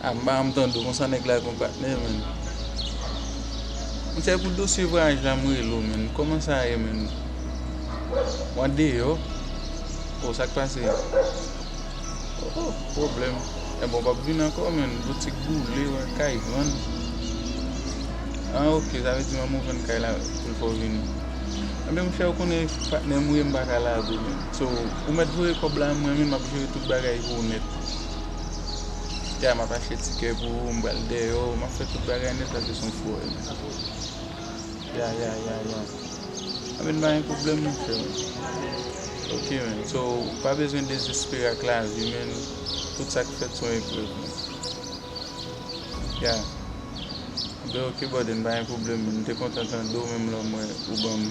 Ah m pa janm tande w konsa nèg la gon patnè menn Misye pou dosye vwayaj la m rele w menn Kòman sa ye menn Ou andeyò Oh sak pase Oh pwoblèm Ebon w pap vin ankò menn Boutik boule wè kay vann Ah ok sa vle di manmi w vann kay la pou l fè w vini Ebyen monchè ou konnen patnè m ou ye m pa ka lage w menn So ou mèt voye kòb la mwen menm m ap jere tout bagay pou ou nèt Kite a map achte tikè pou ou m pral deyo map fè tout bagay nèt paske son fou wè li. Ya ya ya ya. A men pa gen problem men frè. Ok men so pa bezwen dezespere ak la vi men tout sak fèt son eprèv men. Ya. Be ok bòdè m pa gen problem men m te kontan tande w menm lè w m wè ou banm.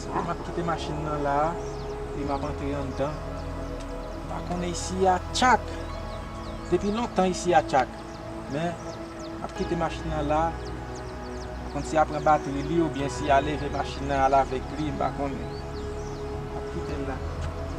Sa map kite machin nan la Epi map antre andan Mpa konnen isi a tchak Depi lontan isi a tchak Men Map kite machin nan la Mpa konn si ya pran batri li oubyen si ya leve machin nan al avèk li Mpa konnen Map kitel la ok.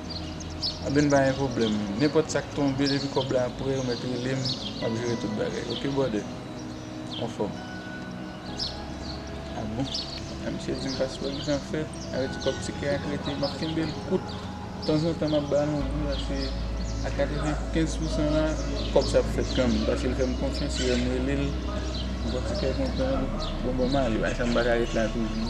Anben pa gen pwoblèm nenpòt sak tonbe depi kòb la prè ou mèt relem map jere tout bagay ok brother anfòm a bon a misye dim paswè li pran fè avè ti kòb tikè a krete map kenbel kout tanzantan map bal yon gou pase a 95 pou san la kòb sa ap fèt kanmèm pase li fèm konfyans li wèm relel li pran tikè kontan bon banm ale bay sa m paka ret la toujou.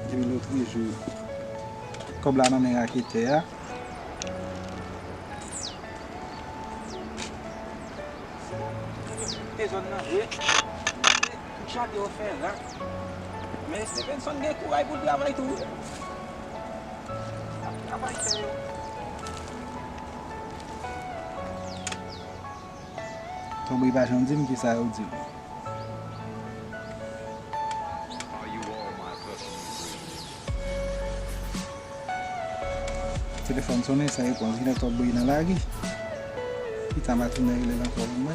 Epi nou toujou kòb la nan men raketè a. Te zòn nan vre. Tout chante yo fè rak. Men Stephenson gen kouray pou l travay tou wi. Lap travay sèl. Tanpri pa janm di m ki sa yo di l. Telefòn sonnen san repons. Gen lè t ap bri nan lari. Pita m a tounen rele l ankò vin wè.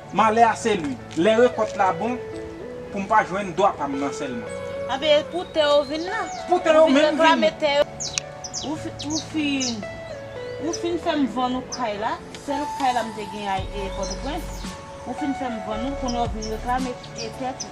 Malè a se li. Lè rekòt la bon, pou m pa jwenn dwa pa m nan sèlman. Anben, e pou tè yo vin lan? Pou tè yo menm vin. Ou fin fè m vann ou kay la, sèl kay la m te gen a Pòtoprens. Ou fin fè m vann ou, kounye a ou vin reklame tè tou.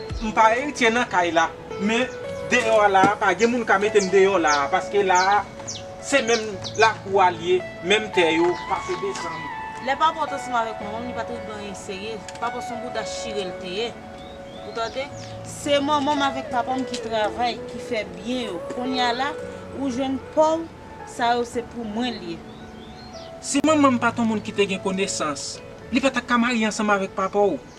M pa eritye nan kay la men deyò a la a pa gen moun ka mete m deyò la a paske la a se menm lakou a l ye menm tè yo pase desann. Lè papa w t ansanm avèk manman m li pa t regle anyen serye papa w s on bouda chire l te ye ou tande se manman m avèk papa m ki travay ki fè byen yo konnya la ou jwenn pa w sa yo se pou mwen l ye. Si manman m pa t on moun ki te gen konesans li pa ta ka marye ansanm avèk papa w.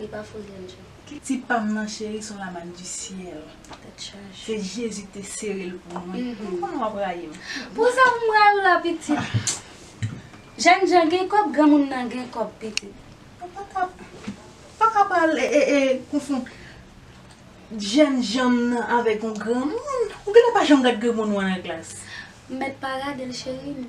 Li pa fout gen djòl. Kiti pam nan cheri son la manne du ciel se Jésus kite serel pou mwen m konn wap rayim. Pou sa pou m rayi w la pitit. Jèn jan gen kòb granmoun nan gen kòb pitit. Ou paka ou paka pral konfond jèn janm nan avèk yon granmoun ou genlè pa janm gad granmoun wan nan glas. M mèt pa gade l cheri m.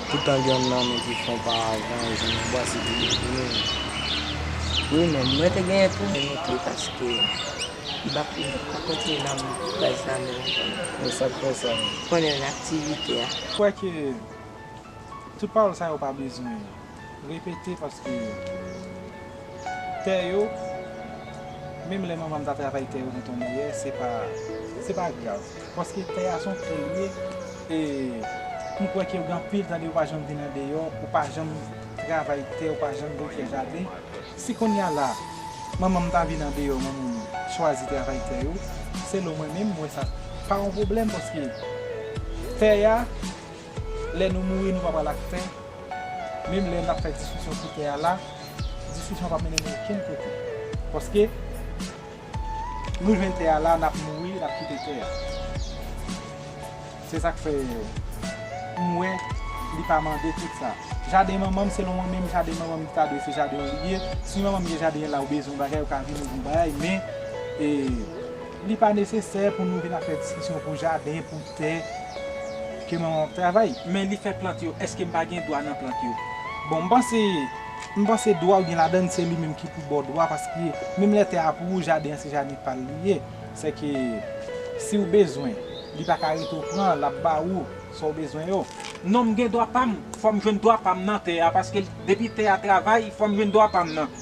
Poutan gen yon nan nou ki fon pa avan e zen anbwa se pi bèl pou nou wi. Wi men mwen te genyen tou. Mwen met li paske li pa kontinye nan baz la men lontan non. E sak fè sa menm? Konnen nan aktivite a. Kwè ke tout pawòl sa yo pa bezwen repete paske. Tè yo, menm lè manman m ta travay tè yo nan ton meyè, se pa, se pa grav. Paske tè a se yon tè liye, e m kwè ke yo gen anpil tande yo pa janm vin andeyò, ou pa janm travay tè, ou pa janm vin fè jaden. Si kounye a la, manman m ta vin andeyò, manman m chwazi travay tè yo, selon mwen menm, m wè sa pa yon pwoblèm paske tè a, Lè nou mouri nou pa pral ak tè, menm lè nap fè diskisyon sou tè a la, diskisyon an pap mennen nou okenn kote. Paske nou jwenn tè a la nap mouri nap kite tè a. Se sak fè m wè li pa mande tout sa. Jaden manmanm selon mwen menm jaden manmanm li ta dwe se jaden an li ye. Si manmanm gen jaden la ou bezwen yon bagay ou ka vini ou vin bagay men li pa nesesè pou nou vin ap fè diskisyon pou jaden pou Tè ke manman w ap travay. Men li fè plant yo. Èske m pa gen dwa nan plant yo? Bon, m panse, m panse dwa w gen ladan l se li menm ki pou ba w dwa paske menm lè tè a pou ou, jaden an se jaden pa l li ye. Sèke si w bezwen, li pa ka rete w pran, l ap ba ou sa w bezwen yo. Non, m gen dwa pa m. Fò m jwenn dwa pa m nan tè a paske depi tè a travay, fò m jwenn dwa pa m nan.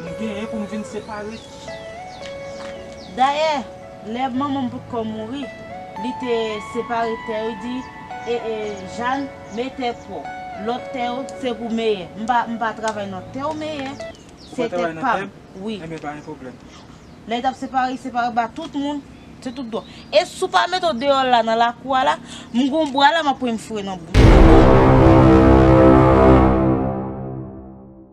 M genyen pou m vin separe. Dayè, lè manman m potkò mouri, li te separe tè yo di, E, e, Jàn, me tè pou w. Lòt tè yo, se pou Meyè. M pa, m pa travay nan tè w, Meyè. Ou pa travay nan tè m? Wi. Enben, pa gen pwoblèm. Lè y t ap separe, li separe ba tout moun. Se tout dwa. E si w pa mete w deyò la, nan lakou a la, m gen yon bwa la m ap pran e m foure nan bouch ou.